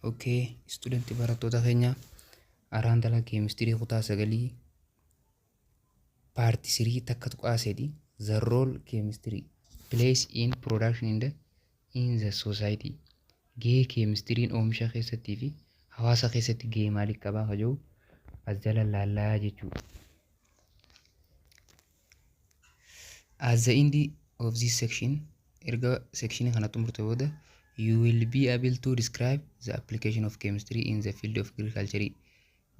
Okay, student barattoota keenya araan dala keemistirii kutaa sagalii paarti sirii takka tuqaa sedhi the role keemistirii place in production in the, in the society gahee keemistiriin oomisha keessattii fi hawaasa keessatti gahee maalii qabaa ka jedhu as jala laallaa jechuudha. At the end of this section, erga section kana xumurte booda, you will be able to describe the application of chemistry in the field of agriculture.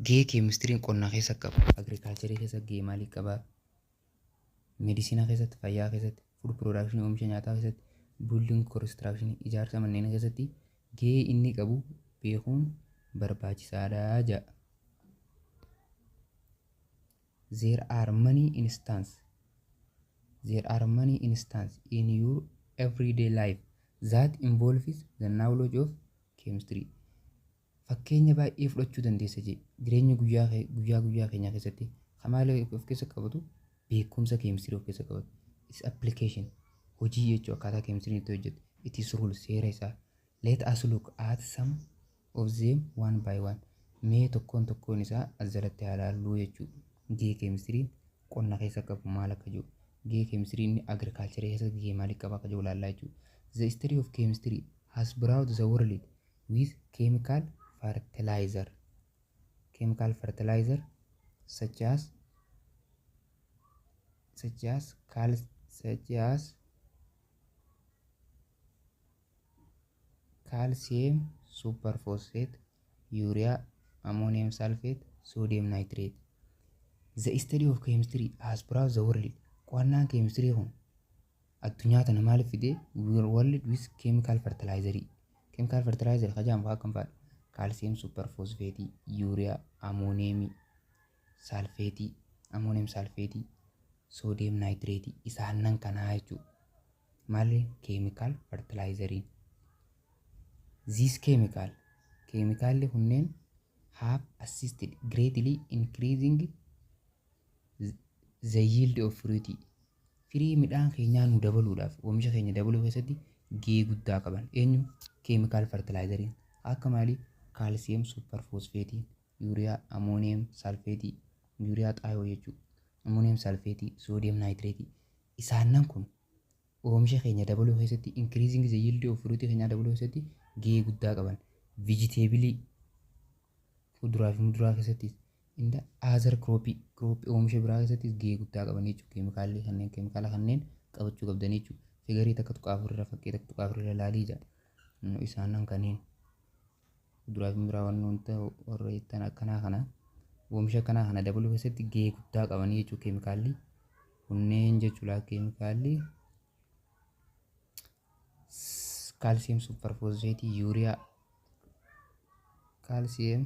Gahee chemistry qonna keessa qabu, agriculture keessa gahee maalii qaba? Medicina keessatti, fayyaa keessatti, food production oomisha nyaataa keessatti, building construction ijaarsa manneen keessatti gahee inni qabu beekuun barbaachisaadha jedha. There are many instances There are many instances in your everyday life that involves the knowledge of chemistry. Fakkeenya baay'ee fudhachuu dandeessa jee jireenya guyyaa kee- guyyaa guyyaa keenyaa keessatti kan maal of keessa qabatu beekumsa keemistirii of keessa qabatu. Its application hojii jechuu akkaataa keemistiriin itti hojjetu. It is rule seera isaa. Let us look at some of them one by one mee tokkoon tokkoon isaa as jalatti haa laalluu jechuu gahee keemistiriin qonna keessa qabu maal akka jiru gahee keemistiriin inni agriculture keessatti gahee maalii qaba akka jiru laallaa jechuu the history of chemistry has brought the world with chemical fertilizer chemical fertilizer such as such as cal such as kaalsiyeem suupper foosfeet, yuuriyaa, amooniyeem saalfeet, soodiyeem naayitireet. The study of chemistry has brought the world. Qo'annaan keemistirii kun addunyaa tana maaliif fide? We were world with chemical fertilizer. Chemical fertilizer ka jedhamu akkam fa'aadha? Kaalsiyeem suupper foosfeetii, yuuriyaa, amooniyeemii, saalfeetii, amooniyeem saalfeetii, soodiyeem naayitireetii isaannan kanaa jechuudha. Malli keemikaal fertilaayizariin. These chemical keemikaalli kunneen have assisted greatly increasing the yield of fruit firii midhaan keenyaa nu dabaluudhaaf oomisha keenya dabaluu keessatti gahee guddaa qaban eenyu keemikaal fertilaayizariin akka maalii kaalsiyeem suuparfoosfeetiin yuuriyaa amooniyeem salfeetii yuuriyaa xaayoo jechuudha amooniyeem salfeetii soodiyeem naayitireetii Isaannan kun oomisha keenya dabaluu keessatti, increasing the yield of fruit keenyaa dabaluu keessatti gahee guddaa qaban. Vegetable, fuduraa fi muduraa keessattis, in the other crop, crop oomisha biraa keessattis gahee guddaa qaban jechuudha. Keemikaalli kanneen keemikaala kanneen qabachuu qabdan jechuudha. Figarii takka tuqaa afur irra fakkii takka tuqaa afur irra laalii jedha. Isaannan kanneen. Kuduraatiin biraa waan nuun ta'u warra ittaan akkanaa kana oomisha akkanaa kana dabaluu keessatti gahee guddaa qabanii jechuudha keemikaalli. Kunneen jechuudha keemikaalli kaalsiyeem supparfooseetii yuuriyaa kaalsiyeem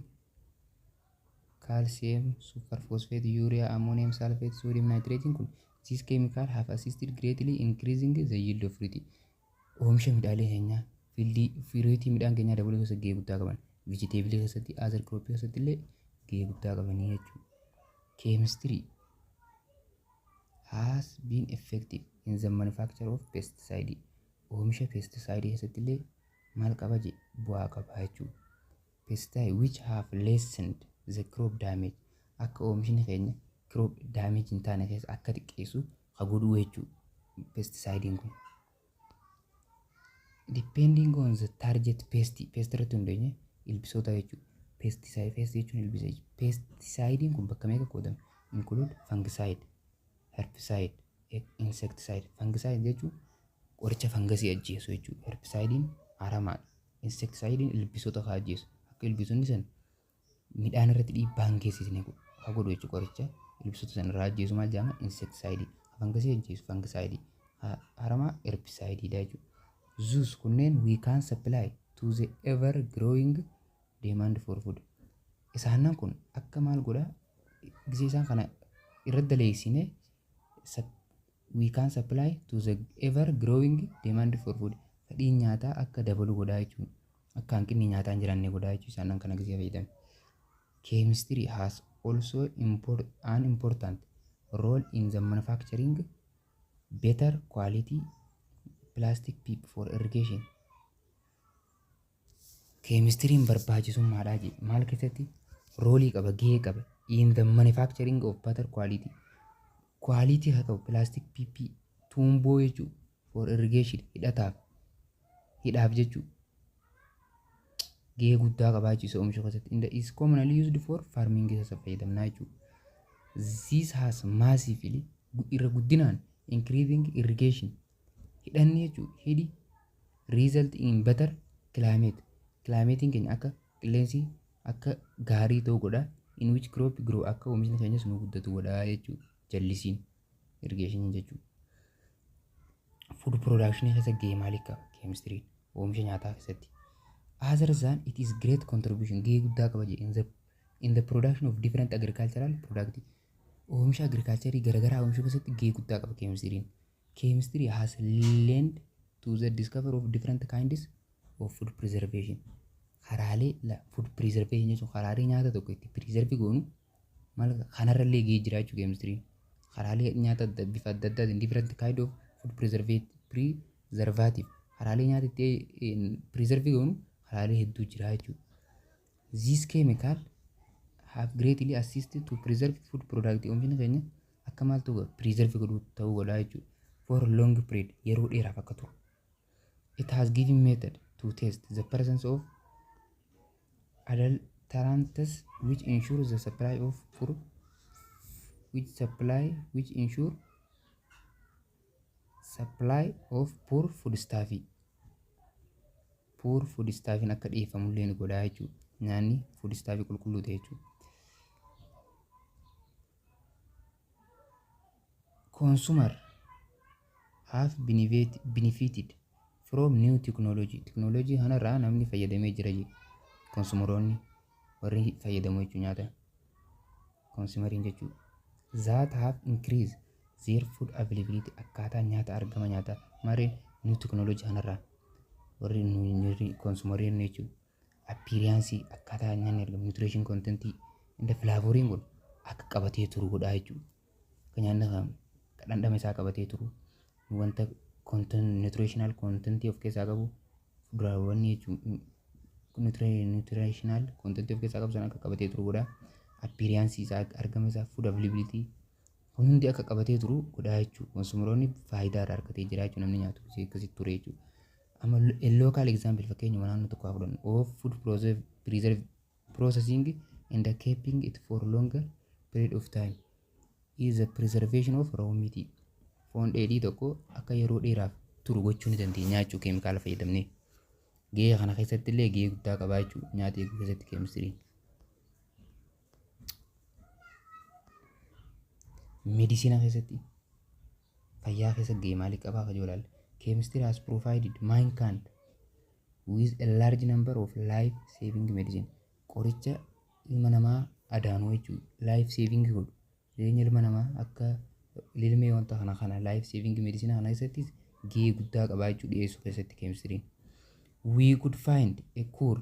calcium superphosphate urea ammonium sulfate sodium nitrate kun these chemical have assisted greatly increasing the yield of fruit Oomisha midhaalee keenyaa, fiildii, fiiriitii midhaan keenyaa dabaluu keessatti gahee guddaa qaban. Vijiteebilee keessatti, aazar kirooppii keessatti illee gahee guddaa qabanii jechuudha. Keemistirii has been effective in the manufacture of pesticide. Oomisha pestisaayidii keessatti illee maal qaba jee bu'aa qaba jechuudha. Pesticide which have lessened the crop damage akka oomishni keenya crop damage hin taane keessa akka xiqqeessu ka godhuu jechuu pesticidein kun. Depending on the target pest pest irratti hundeenye ilbisoota jechuu pesticide pest jechuun ilbisa jechuudha. Pesticidein kun bakka meeqa qoodama? Include fungicide, herbicide, insecticide. Fungicide jechuun qoricha fangasii ajjeesu jechuudha. Herbicidein aramaadha. Insektisaayidiin ilbiisota haa ajjeesu. Akka ilbiisonni san midhaan irratti dhiibbaa hin geessisne godhu. Haa godhu jechuudha qoricha ilbiisota san irraa ajjeesu maal jedhama? Insektisaayidii. Haa fangasii ajjeesu fangisaayidii. Haa haramaa erbisaayidii dha jechuudha. Thus kunneen we can supply to the ever growing demand for food. Isaannan kun akka maal godha gisee isaan kana irra daleessine we can supply to the ever growing demand for food fedhiin nyaataa akka dabalu godhaa jechuun akka hanqinni nyaataa hin jiraanne godhaa jechuu isaan kana gisee fayyadame. Chemistry has also import, an important role in the manufacturing better quality plastic pipe for irrigation. Keemistiriin barbaachisummaadhaa je maal keessatti roolii qaba gahee qaba in the manufacturing of butter quality quality haa ta'u plastic PP tuumboo jechuu for irrigation hidhataaf hidhaaf jechuu gahee guddaa qabaachuu isa oomishuu keessatti in the is commonly used for farming isa isa fayyadamnaa jechuu this has massively irra guddinaan increasing irrigation Hidhanni jechuun hidhi result in better climate. Kilaameetiin keenya akka qilleensi akka gaarii ta'u godha. In which crop grow akka oomishni keenyas nu guddatu godha jechuudha. Jallisiin irrigeeshiniin jechuudha. Food production keessa gahee maalii qaba? Keemistiriin oomisha nyaataa keessatti. Other than it is great contribution gahee guddaa qaba jedhe in the, in the production of different agricultural product. Oomisha agriculturii garaagaraa oomishuu keessatti gahee guddaa qaba keemistiriin. Chemistry has lend to the discovery of different kinds of food preservation. Karaalee la food preservation jechuun karaalee nyaata tokko itti preserve goonu maal kanarra illee gahee jira jechuudha chemistry. Karaalee nyaata adda bifa adda addaatiin different kind of food preservate preservative karaalee nyaata itti preserve goonu karaalee hedduu jira jechuudha. This chemical have greatly assisted to preserve food product oomishni keenya Akka maaltu godhu? Preserve godhu ta'uu godha jechuudha. For long period yeroo dheeraaf akka turu. It has given method to test the presence of adulterants which ensure the supply of for which supply which ensure supply of poor food stuff poor food stuff akka dhiyeeffamu illee ni godha jechuudha. Nyaanni food stuff qulqulluu ta'e jechuudha. Consumer have benefited from new technology. Teknooloojii kanarraa namni fayyadamee jira jedhe. Konsumeroonni warri fayyadamu jechuun nyaata konsumerii jechuudha. That have increased their food availability akkaataa nyaata argama nyaataa maarreen new technology kanarraa warri konsumeroonni jechuudha. appearance akkaataa nyaanni argamu nutrition content inda flavoriin kun akka qabatee turu godhaa jechuudha. Akka nyaanni kan akka dhandhama isaa qabatee turu wanta content nutritional content of keessaa qabu fuduraawwan jechuudha. Nutri- Nutritional content of keessaa qabu sana akka qabatee turu godhaa. Appearance isaa argama isaa food availability Kun hundi akka qabatee turu godhaa jechuudha. Konsumeroonni faayidaa irraa argatee jira jechuudha namni nyaatu si akkasitti ture jechuudha. Amma a local example fakkeenyuma naannoo tokko haa fudhannu. Of food preserve, preserve processing and keeping it for longer period of time is the preservation of raw meat. Foon dheedhii tokko akka yeroo dheeraaf turu gochuu ni dandeenya jechuudha keemikaala fayyadamnee. Gahee kana keessatti illee gahee guddaa qabaa jechuudha nyaata eeguu keessatti keemistiriin. Medicina keessatti fayyaa keessa gahee maalii qabaa kajoo ilaalle. Chemistry has provided mankind with a large number of life saving medicine. Qoricha ilma namaa adaanuu jechuun life saving godhu. Jireenya ilma namaa akka lilmee wanta kana kana life saving medicine kana keessattis gahee guddaa qabaa jechuu dhiyeessuu keessatti chemistry. We could find a cure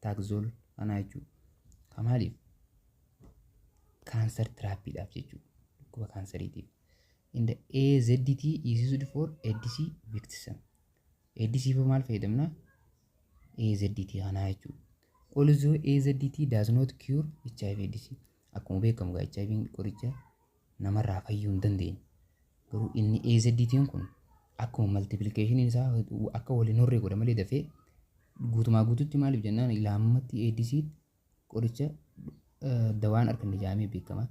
taakzool kanaa jechuudha. Kan maaliif? Kaansar tiraappiidhaaf jechuudha. Dhukkuba kaansariitiif. Inda AZT iisisuud for ADC victism. ADC for maal fayyadamna? AZT kanaa jechuudha. Also AZT does not cure HIV ADC. Akkuma beekamu egaa HIV qoricha namarraa fayyuu hin dandeenye. Garuu inni AZTn kun akkuma maltiplikeeshiniin isaa akka wal hin horree godha malee dafee guutumaa guututti maaliif jennaan ilaammatti ADC qoricha eh, dawaan arganne jaamee beekama.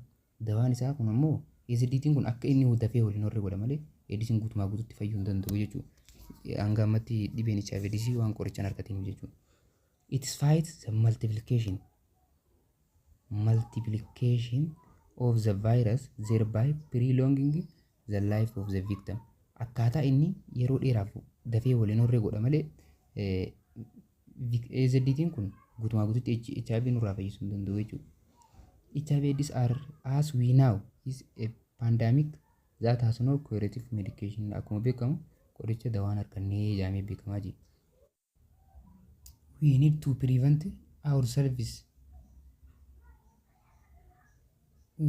Dawaan isaa kun ammoo AZTn kun akka inni dafee wal hin horree godha malee ADCn guutumaa guututti fayyuu hin danda'u jechuudha. Hanga ammatti dhibeen HIV ADC waan qorichaan argateef jechuudha. It fights the multiplication multiplication of the virus thereby prolonging the life of the victim. Akkaataa inni yeroo dheeraaf dafee waliin horree godha malee AZDtiin kun guutumaa guututti HIV nurraa fayyisuu hin danda'u jechuudha. HIV AIDS are as we now is a pandemic that has no curative medication akkuma beekamu qoricha dawaan harkannee jedhamee beekamaa jira. we need to prevent ourselves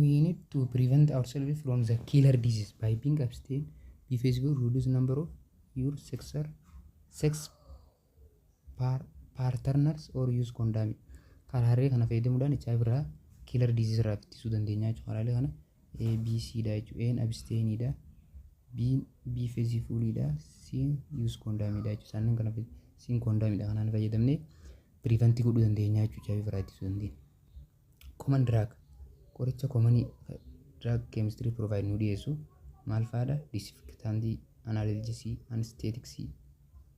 we need to prevent ourselves from the killer disease by being abstain be flexible reduce number of your sexer sex par partners or use condom karaalee kana fayyadamuudhaan HIV irraa killer disease irraa ittisuu dandeenya jechuudha karaalee kana A, B, C dha jechuudha. A'n absteenii dha. B'n biifeezii fuulii dha. C'n yuus koondaamii dha jechuudha. Isaan kana C'n koondaamii dha kanaan fayyadamnee piriivantii godhuu dandeenya jechuudha. Chaabii biraa ittisuu dandeenya. Koman diraag qoricha komanii diraag keemistirii piroovaayid nu dhiyeessu maal fa'aadha? Disinfektaantii, anaalaljesii, anesteetiksii,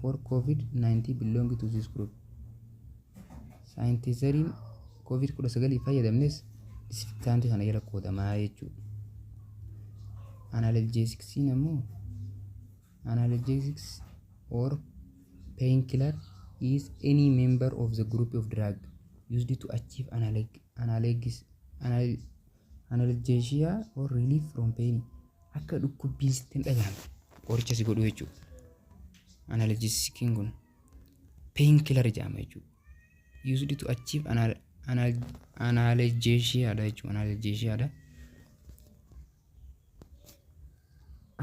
for COVID-19 belong to this group. Saayintiizariin COVID-19 fayyadamnes disinfektaantii kana jala qoodamaa jechuudha. Analjeesiksiin ammoo analjeesiks or painkiller is any member of the group of drug used to achieve analgesia Analgesia or relief from pain akka dhukkubbiin sitti hin dhagahamne qoricha si godhu jechuudha. Analgesikiin kun pain killer jedhama jechuudha. Used to achieve anal, anal, analgesia dha jechuudha. Analgesia dha.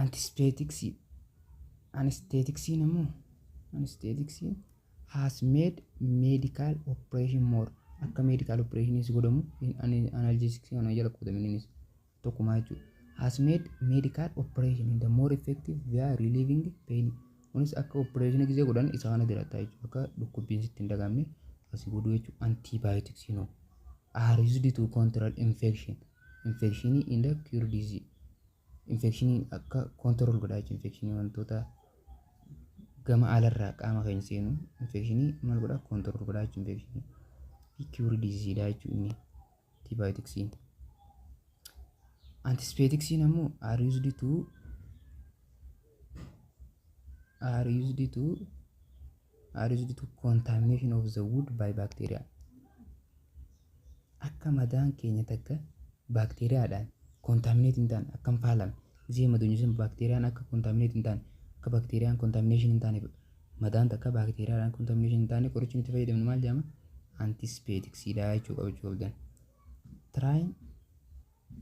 Antibiotics anesthetics immoo anesthetics has made medical operation more akka medical operation si godhamu in an- analgesics kana jala qoodame innis tokkumaa jechuudha has made medical operation in the more effective via relieving pain kunis akka operation gisee godhan isa kana jalatta jechuudha akka dhukkubbiin sitti hin dagamne asi godhu jechuudha antibiotics you know are used to control infection infection in the cure disease infekshinii akka control godhaa jechuudha infekshinii wantoota gama alarraa qaama keenya seenu infekshinii maal godhaa control godhaa jechuudha infekshinii fi cure disease dha jechuudha inni antibioticsiin antibioticsiin ammoo are used to are used to are used to contamination of the wood by bacteria akka madaan keenya takka baakteeriyaadhaan kontaaminate hin taane akka hin faalamne isee madoonyi sun baakteeriyaan akka kontaaminate hin taane akka baakteeriyaan kontaamination hin taane madaan takka baakteeriyaadhaan kontaamination hin taane qorichi nuti fayyadamnu maal jedhama antispetiksiidha jechuu qabachuu qabdan. Try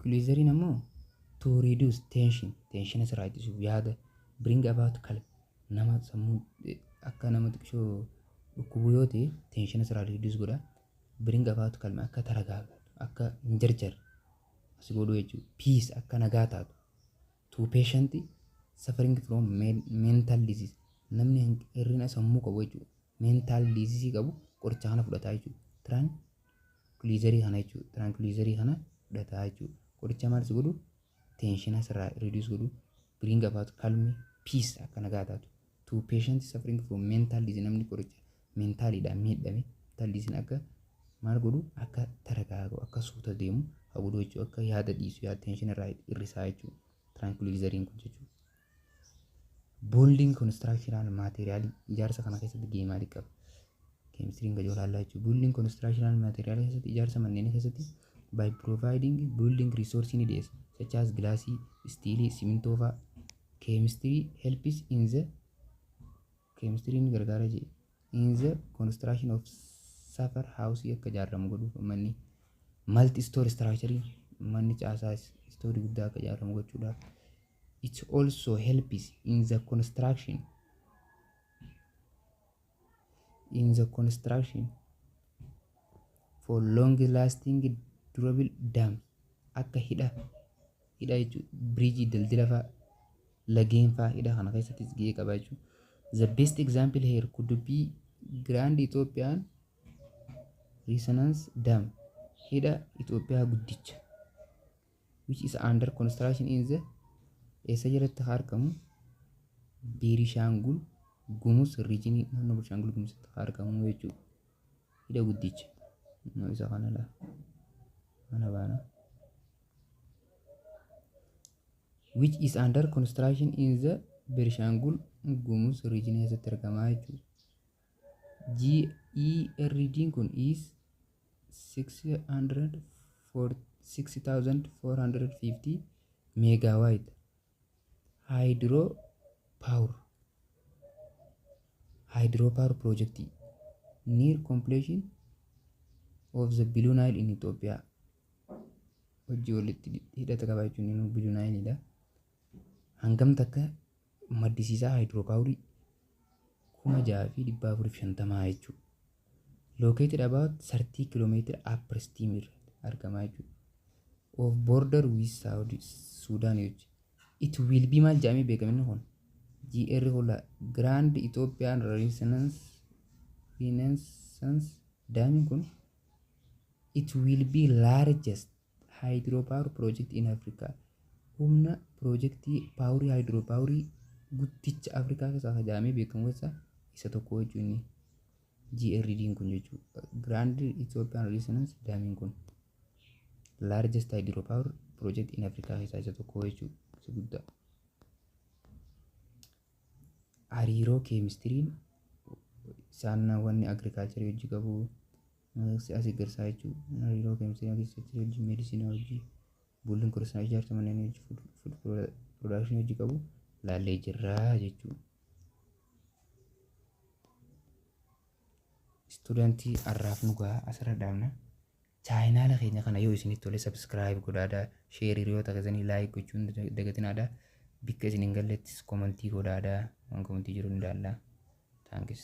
glycerin ammoo to reduce tension tension asirraa ittisuuf yaada bring about calm nama sammuun akka nama xiqqishoo dhukkubu yoo ta'e teenshina sirraa reduce godha bring about calm akka taragaagatu akka hin jarjarre as godhu jechuudha peace akka nagaa taatu to patient suffering from men- mental disease namni hanq- hir'ina sammuu qabu jechuudha mental disease qabu qoricha kana fudhataa jechuudha tran tranquilizerii kana jechuudha tranquilizerii kana fudhataa jechuudha qoricha maal si godhu tenshina sirraa reduce godhu bring about calm peace akka nagaa taatu to patient suffering from mental disease namni qoricha mentaaliidhaan miidhame mental disease akka maal godhu akka taragaa'u akka suuta deemu haa godhu jechuu akka yaada dhiisu yaada tenshina irraa hir'isaa jechuu tranquilizeriin kun jechuu Boondiin konistiraakshinaal maateeriyaalii ijaarsa kana keessatti gahee maalii qaba? Keemistiriin gadi olaallaa jechuudha. Boondiin konistiraakshinaal maateeriyaalii keessatti ijaarsa manneenii keessatti by providing building resource ni dhiyeessa. Such as gilaasii, istiilii, simintoo fa'a. Keemistirii helps in the keemistirii ni gargaara jedhe. In the construction of suffer house akka ijaaramu godhuuf manni multi store structure manni caasaa istoorii guddaa akka ijaaramu gochuudhaaf. It also helps in the construction in the construction for long lasting durable dam akka hidha hidha jechuun biriijii daldala fa'aa lageen fa'aa hidha kana keessattis gahee qaba jechuudha. The best example here could be Grand Ethiopian Resonance Dam hidha Itoophiyaa guddicha. which is under construction in the eessa jalatti haa argamu Biirishaangul Gumuz riijinii naannoo Biirishaangul Gumuzitti haa argamu jechuudha. Hidha guddicha. Innoo isa kana laa. Kana baana. Which is under construction in the Biirishaangul Gumuz riijinii keessatti argamaa jechuudha. GERD kun is 6450 megawatt hydro power hydro power project near completion of the Blue Nile in Ethiopia hojii walitti hidhata qaba jechuun inni Blue Nile dha. hangam takka maddisiisaa haayidiroopaawurii 6450 jechuudha. Located about 30 kilometer upper steam irratti argama jechuudha. Of border with Saudi Sudan jechuudha. It will be maal jedhamee beekama inni kun? GR Hola Grand Ethiopian Renaissance Renaissance daamiin kun it will be largest Hydropower Project in Africa humna piroojektii paawurii haayidiroopaawurii guddicha Afrikaa keessaa isa jedhamee beekamu keessaa isa tokko jechuun inni GRDn kun jechuudha. Grand Ethiopian Renaissance Damiin kun largest hydropower project in Africa keessaa isa tokko jechuudha. Isa guddaa. Hariiroo keemistiriin saannaawwan agirikaalcharii hojii qabu Mallattoo as eeggarsaa jechuun hariiroo keemistrii yookiin seektarii wajjin meedisinaa hojii buuldiin kursaa ijaarsa manneen hojii fuud piroodakshinii hojii qabu laallee jirra jechuudha. Istuudantii har'aaf nu gahaa asirra dhaabna. Chaayinaala keenya kana yoo isinitti tole sabskiraayib godhaadha. Sheer hiriyoota keessanii laayik gochuun dagatinaadha. Bikka isin hin gallettis komantii godhaadha. Waan komantii jiru ni ilaalla. Taankis.